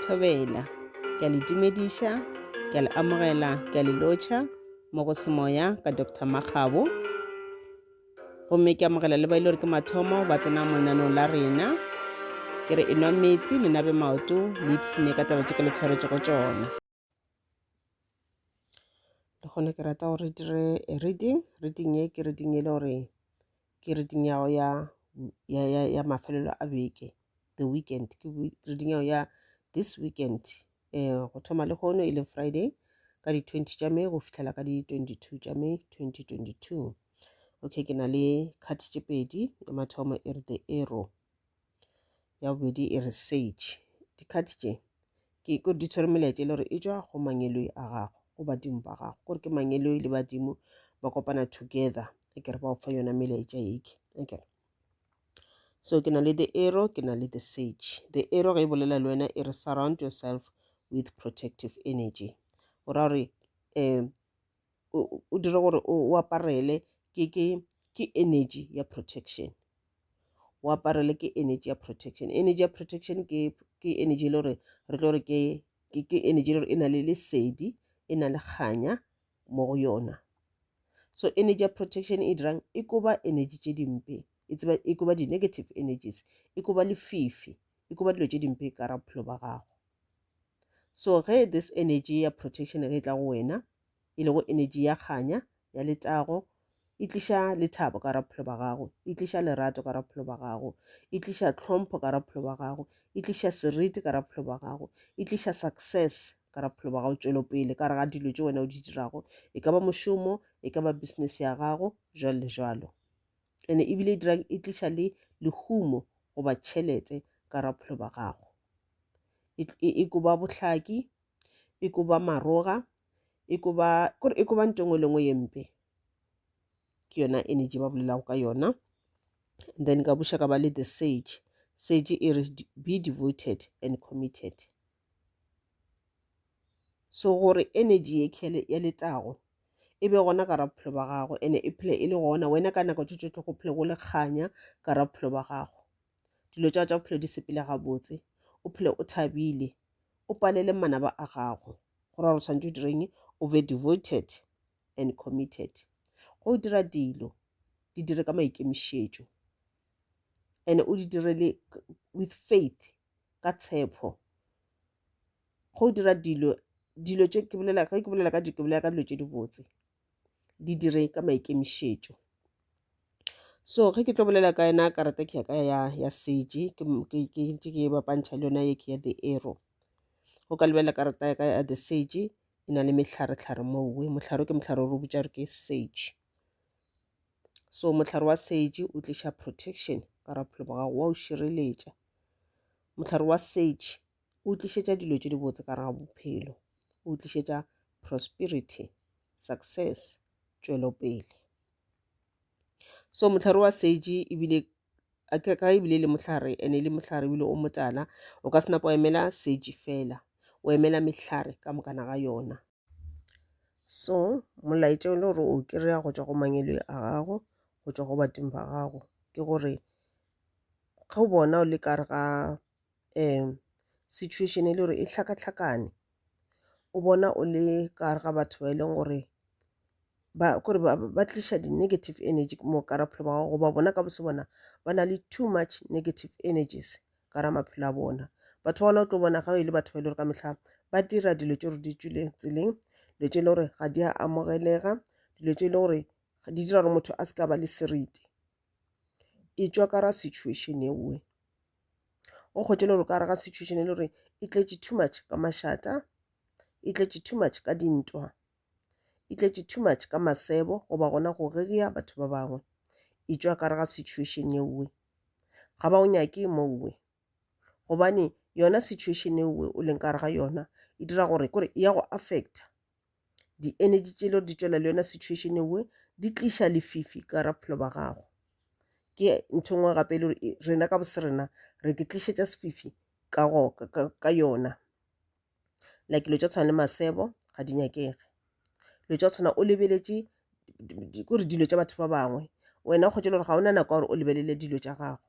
Thobela. Ke a le dumediša, ke a le amogela, ke a le lotšha mo go semoya ka Dr. Makgabo. Gomme ke amogela le ba ile gore ke mathomo ba tsena mo lenanong la rena. Ke re enwa metsi le nabe maoto le ipsine ka taba tše ke le tshwaretšego tšona. le gona ke rata gore re dire a reading reading ye ke reading e le gore ke reading ya ya ya ya ya mafelelo a beke the weekend ke we- reading ya ya this weekend um go thoma le kgono e leng friday ka di twenty tša may go fihlela ka di twenty two tša may twenty twenty two okay ke na le card tše pedi ya mathomo e re the arrow ya bobedi e re sage dikhati tše ke ko di tshwere melaetša e le gore e tšwa go mangeloi a gago go badimo ba gago gore ke mangeloi le badimo ba kopana together e kere ba o fa yona melaetša eke e kere so ke na le the arrow ke na le the sage the arrow ge e bolela le wena e re surround yourself with protective energy o ra gore um o dire gore o aparele ke ke ke energy ya protection o aparele ke energy ya protection energy ya protection ke ke energy e le gore re tlo re ke ke ke energy e le gore e na le lesedi e na le kganya mo go yona so energy ya protection e dirang e koba energy tše dimpe e tseba e koba di-negative energies e koba lefifi e koba dilo tše dimpe ka ra bophelo ba gago so ge this energy ya protection ge e tla go wena e lego enetši ya kganya ya letago e tliša lethabo ka raphelo ba gago e tliša lerato ka raphelo ba gago e tliša tlhompho ka raphelo ba gago e tliša seriti ka raphelo ba gago e tliša success ka raphelo ba gago tšwelopele ka re ga dilo tše wena o di dirago e ka ba mošomo e ka ba business ya gago jalo le jalo ene ebile e dirang e tliša le lehumo goba tšhelete ka raphelo ba gago e, e, e koba bohlaki e ko ba maroga e ko ba kore e ko ba nto engwe le engwe ye mpe ke yona energy ba bolelago ka yona and then ka buša ka ba le the sage sage e re be devoted and committed so gore energy ye khele ya letago e be gona ka ra bophelo ba gago ene e phele e le gona wena ka nako tše tšohle go phele go le kganya ka ra bophelo ba gago dilo tša tša bophelo di sepele gabotse o phele o thabile o palele manaba a gago gore gore tshwanetse o direng o be devoted and committed go o dira dilo di dire ka maikemišetšo and o di dire le with faith ka tshepo go o dira dilo dilo tše ke bolela ge ke bolela ka dilo ke bolela ka dilo tše dibotse di dire ka maikemišetšo so ge ke tlo bolela ka yena karata ke ya ka ya ya seje ke ntse ke e bapantšha le yona ye ke ya the arrow go ka lebelela karata ya ka ya the sage e na le mehlare-tlhare mowe mohlare ke mohlare o re botša re ke sage so mohlare wa sage o tliša protection ka ra bophelo ba gago wa o šireletša mohlare wa sage o tlišetša dilo tše dibotse ka ga bophelo o tlišetša prosperity success tšwelopele so mohlare wa seji ebile ka ebile le mohlare ene le mohlare ebile o motala o ka senapa wa emela seji fela o emela mehlare ka mokana ga yona so molaetša o le gore o kry-a go tšwa go mangelo a gago go tšwa go bateng ba gago ke gore ga o bona o le kare ga um situation e le gore e hlakahlakane o bona o le ka gare ga batho ba e leng gore ba kore ba ba tliša di-negative energy mo kara bophelo ba gago goba bona ka bose bona ba na le too much negative energies ka ra maphelo a bona batho ba gona o tlo bona ga e le batho ba e le gore ka mehla ba dira dilo tse gore di tswile tseleng dilo tse e le gore ga di a amogelega dilo tse e le gore di dira gore motho a se ka ba le seriti e tswa ka ra situation ewe o kgwetše le gore ka gare ga situation e le gore e tletše too much ka mašata e tletše too much ka dintwa e tletše too much ka masebo goba gona go rereya batho ba bangwe e tšwa ka gare ga situation yeowe ga ba o nyake mowe gobane yona situation yeowe o leng ka gare ga yona e dira gore kore e ya go affecta di energy tše le gore di tšwela le yona situation e nngwe di tliša lefifi ka gara bophelo ba gago ke ntho e nngwe gape e le gore e- rena ka bosrena re ke tlišetša sefifi ka, go, ka, ka, ka yona like dilo tša tshwana le masebo ga di nyakege dilo tša tshwana o lebeletše di- di- di- kore dilo tša batho ba bangwe wena o kgwetše le gore ga ona nako ya gore o lebelele dilo tša gago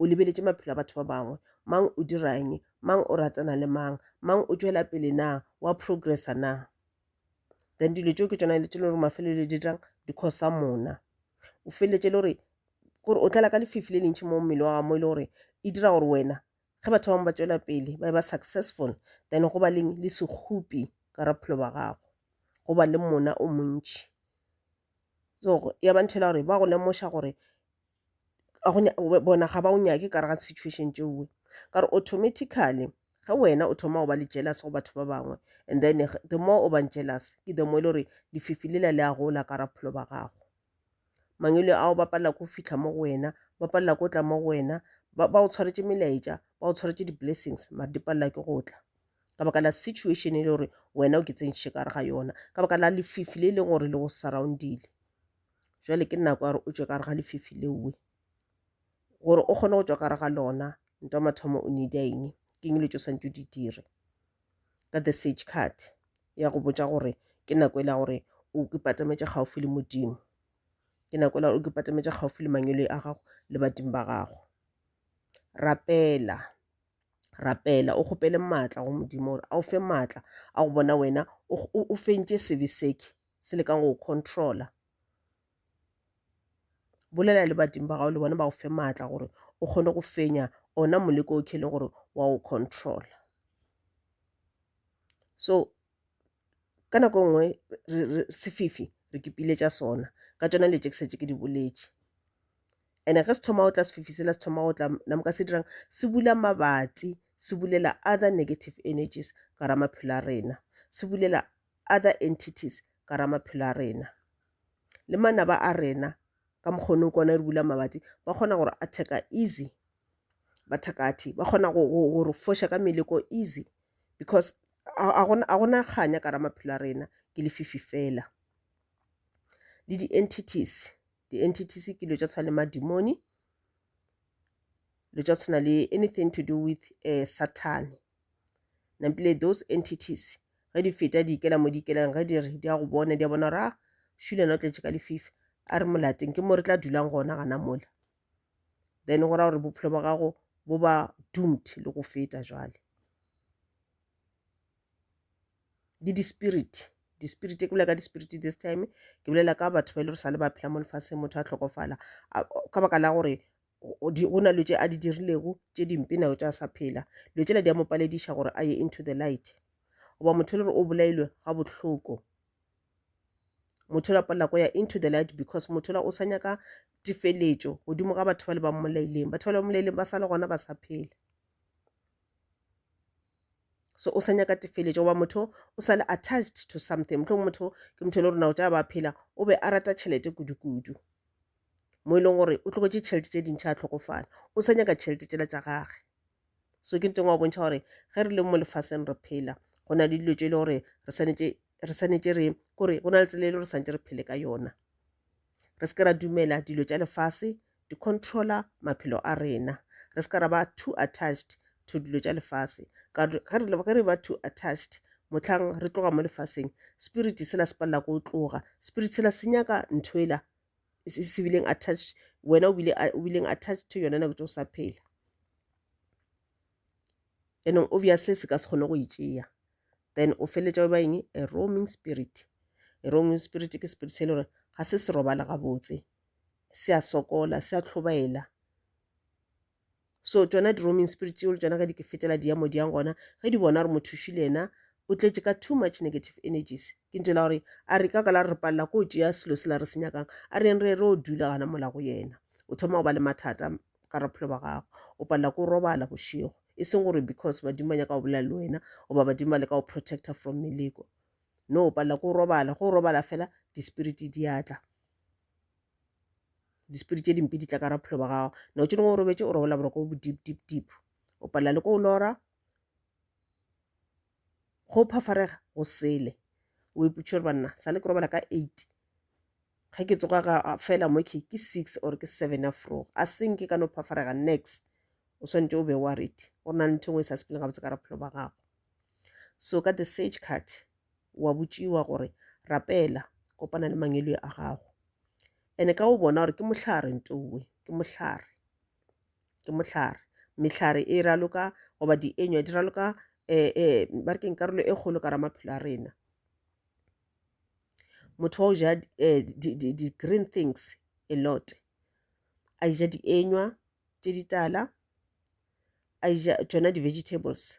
o lebeletše maphelo a batho ba bangwe mang o dirang mang o ratana le mang mang o tšwela pele na wa progressa na then dilo tšeo ke tsona le tšele gore mafelelo di dirang di khosa mona o feleletse le gore gore o tlala ka lefifi le lentšhi mo mmele wa ga mo e le gore e dira gore wena ge batho bangwe ba tswela pele ba ba successful then go ba leng le sekgopi ka raphelo ba gago go ba le mona o montšhi so ya ba ntho e le gore ba go lemoša gore bona ga ba o nyake ka re ga situation tšeoe ka re automatically ge wena o thoma go ba le jealous go batho ba bangwe and then the more o bang jealous ke the more e le gore lefifi lela le a gola ka ra bophelo ba gago mangwele ao ba palela ko fitlha mo go wena ba palela ko tla mo go wena ba o tshwaretše melaetša ba o tshwaretše di-blessings mare di palela ke go tla ka baka la situation e le gore wena o ke tsentšhe ka re ga yona ka baka la lefifi le e leng gore le go surroundile jale ke nako ya gore o tšwe ka re ga lefifi leowe gore o kgone go tšwa ka re ga lona nto mathomo o need eng ke eng le tšo swantse di dire ka the sage card ya go botša gore ke nako e la gore o ke patametše gaufi le modimo ke nako e la gore o ke patametše gaufi le mangwele a gago le badimo ba gago rapela rapela o kgopele maatla go modimo gore a o fe maatla a go bona wena o fentše sebe seke se lekang go controla bolela le badimo ba gago le bona ba go fe maatla gore o kgone go fenya ona moleko o kheleng gore wa o controla so ka nako e nngwe sefifi re kepile tša sona ka tšona le ke setse ke di boletše ene ge se thoma go tla sefifi sela se thoma go tla namoka se dirang se bula mabatsi se bulela other negative energies ka ra maphelo a rena se bulela other entities ka ra maphelo a rena le manaba a rena ka mokgonong kona re bula mabati ba kgona gore a theka easy bathakathi ba kgona go re foša ka meleko easy because a gona kganya ka ra maphelo a rena ke lefifi fela le di-entities di-entities ke dilo tša tshwana le madimoni dilo tša tshwana le anything to do with um sathane Nampile those entities ge di feta di ikela mo di ikelang ge di re di a go bona di a bona gore a ah, shulana o tletše ka lefifi a re molateng ke mo re tla dulang gona gana mola then go ra gore bophelo ba gago bo ba doomed le go feta jwale le di-spirit di-spirit ke bolela ka di-spirit this time ke bolela ka batho ba e le gore sa le ba phela mo lefatsheng motho a tlhokofala ka baka la gore go na lo tše a di dirilego tše dimpe nako tša sa phela lo tšela di a mo palediša gore a ye into the light goba motho le gore o bolailwe ga bohloko motho la palela ko ya into the light because motho la o sa nyaka tifeletšo godimo ga batho ba le ba mmolaileng batho ba le ba mmolaileng ba sa le gona ba sa phela so o sa nyaka tifeletšo goba motho o sa le attached to something motlho motho ke motho le gore nako tša ba phela o be a rata tšhelete kudu-kudu mo e leng gore o tlogetše tšhelete tše dintšha a tlhokofala o sa nyaka tšhelete tšela tša gage so ke nteng wa bontšha gore ge re le mo lefaseng re phela go na le dilo tše e le gore re swanetše re kore go na le tsela e le gore santse re phele ka yona re se ke ra dumela dilo tša lefase di controller maphelo a rena re se ka ra ba too attached to dilo tša lefase ka ge re ba too attached motlhang re tloga mo lefaseng spirit sela se palela ko tloga spirit sela se nyaka ntho ela se bileng attached wena o bileng attached to yona nako tse o sa phela anong obviously se ka se kgone go itšea then o feletša o ba eng a roaming spirit a roaming spirit ke spirit se e le gore ga se se robala gabotse se a sokola se a tlhobaela so tšona di-roaming spirits yeo le tšona ge di ke fetela di ya mo di yang gona ge di bona gore mothuši le yena o tletše ka too much negative energies ke ntho la gore a re ka ka la re palela ko tšea selo se la re se nyakang a re yeng re re o dula gana mola go yena o thoma go ba le mathata ka raphelo ba gago o palela ko robala bošego e seng gore because badimo ba nyaka go bolela le wena goba badimo ba le ka go protector from meleko no o palela ko robala go robala fela di-spirit di atla dispiri tše dimpe di tla ka raphelo ba gago na o tšeneng o robetše o robela boroko bo deep deep deep o palela le ko o lora go phafarega go sele o iputše gore banna sa le ke robala ka eight ge ke tsoga ga fela mo ke ke six or ke seven ya froga a seng ke ka no phafarega next o swanetše o be worried go na le ntho e nngwe e sa sepeleng gabotse ka raphelo ba gago so ka the sage card wa botšiwa gore rapela kopana le mangwelwe a gago ene ka o bona gore ke mohlare ntowe ke mohlare ke mohlare mehlare e raloka goba dienywa di raloka um um ba re keng karolo e kgolo ka ra maphelo a rena motho wa o ja di-green eh, things a lot a ja dienywa tše ditala a ja tšona di-vegetables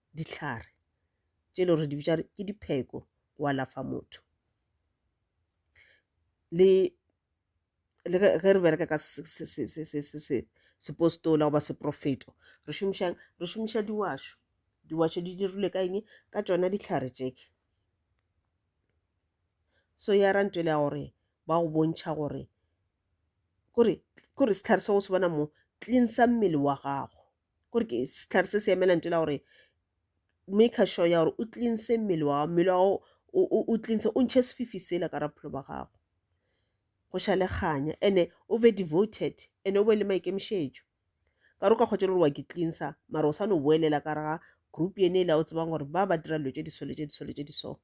dihlare tše le gore di bitša ke dipheko go alafa motho le le ge re bereka ka sepostola goba seprofeto re šomišang re šomiša diwašo diwašo di dirilwe ka eng ka tšona dihlare tšeke so ya ra ntwele ya gore ba go bontšha gore kore kore sehlare se go se bona mo cleansa mmele wa gago gore ke sehlare se se emela nto la gore make sure ya gore o cleanse mmele wa gago mmele wa gago o cleanse o ntšhe sefifi sela ka rapholo ba gago go ša le kganya ene o be devoted ene o be le maikemišetšo ka re o ka kgwetsa le gore wa ke cleansa mara o sa no boelela ka rega group ene e le ya o tsebang gore ba ba dira dilo tše disole tše disole tše diso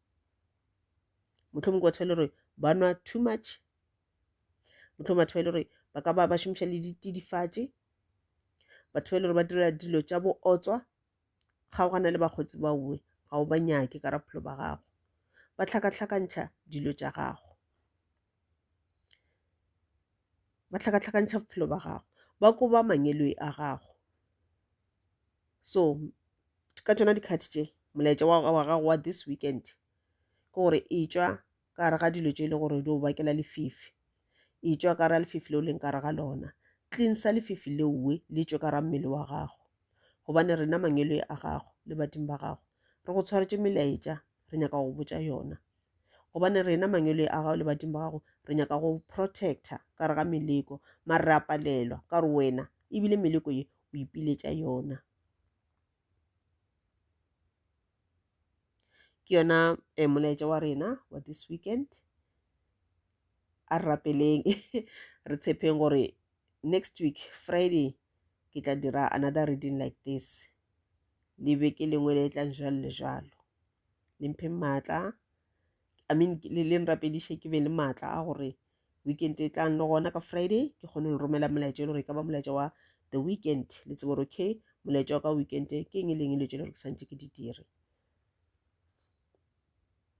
motlho mongwe batho ba e le gore ba nwa too much motlho batho ba e le gore ba ka ba ba šomiša le ditidifatše batho ba e le gore ba dira dilo tša bootswa kgaogana le bakgotsi ba uwe ga o ba nyake ka raphelo ba gago ba tlhakatlhakantšha dilo tša gago ba tlhakatlhakantšha bophelo ba gago ba koba mangeloi a gago so ka tšona dikgati tše molaetša wa gago wa this weekend ke gore e tšwa ka gare ga dilo tše e le gore di o bakela lefifi e tšwa ka ra lefifi leo leng ka re ga lona cleansa lefifi leowe le tšwe ka ra mmele wa gago gobane rena mangwelo a gago le badimo ba gago re go tshwaretše melaetša re nyaka go botša yona gobane rena mangwelo a gago le badimo ba gago re nyaka go protector ka re ga meleko mare re a palelwa ka re wena ebile meleko ye o ipiletša yona Ke yona molaetša wa rena wa this weekend. A re rapeleng re tshepeng gore next week Friday ke tla dira another reading like this. Le beke lengwe le tlang jwalo le jwalo. Le mpheng maatla, I mean le nrapediše ke be le maatla a gore. weekend e tlang le gona ka friday ke kgone go romela molaetša e le gore e ka ba molaetša wa the weekend le tsebo gore okay molaetša wa ka weekend ke eng e leng e le tšele gore ke santse ke di dire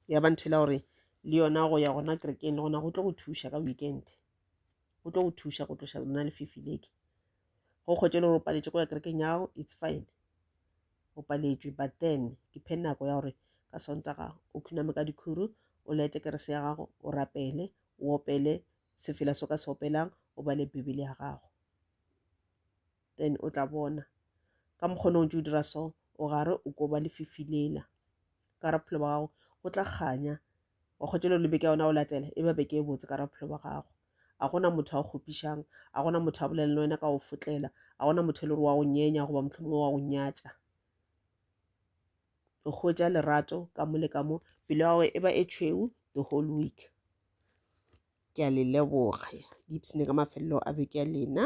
ya ba ntho e la gore le yona go ya gona kerekeng le gona go tlo go thuša ka weekend go tlo go thuša go tloša lona le fifileke go kgwetše le gore o paletše go ya kerekeng yago it's fine o paletšwe but then ke phe nako ya gore ka sontaga o khuname ka dikhuru o lete kerese ya gago o rapele o opele sefela so ka se opelang o bale bibele ya gago then o tla bona ka mokgona o ntse o dira so o gare o ko ba lefifi lela ka ra bophelo ba gago go tla kganya wa kgotšelo le beke yona o latela e ba beke e botse ka ra bophelo ba gago A go na motho a go kgopišang? A go na motho a bolela le wena ka go fotlela? A go na motho e le gore wa go nyenya goba mohlomongwe wa go nyatša? O hwetša lerato ka mo le ka mo pelo ya gagwe e ba e tšhweu the whole week ke a le leboga dipsene ka mafelelo a beke ya lena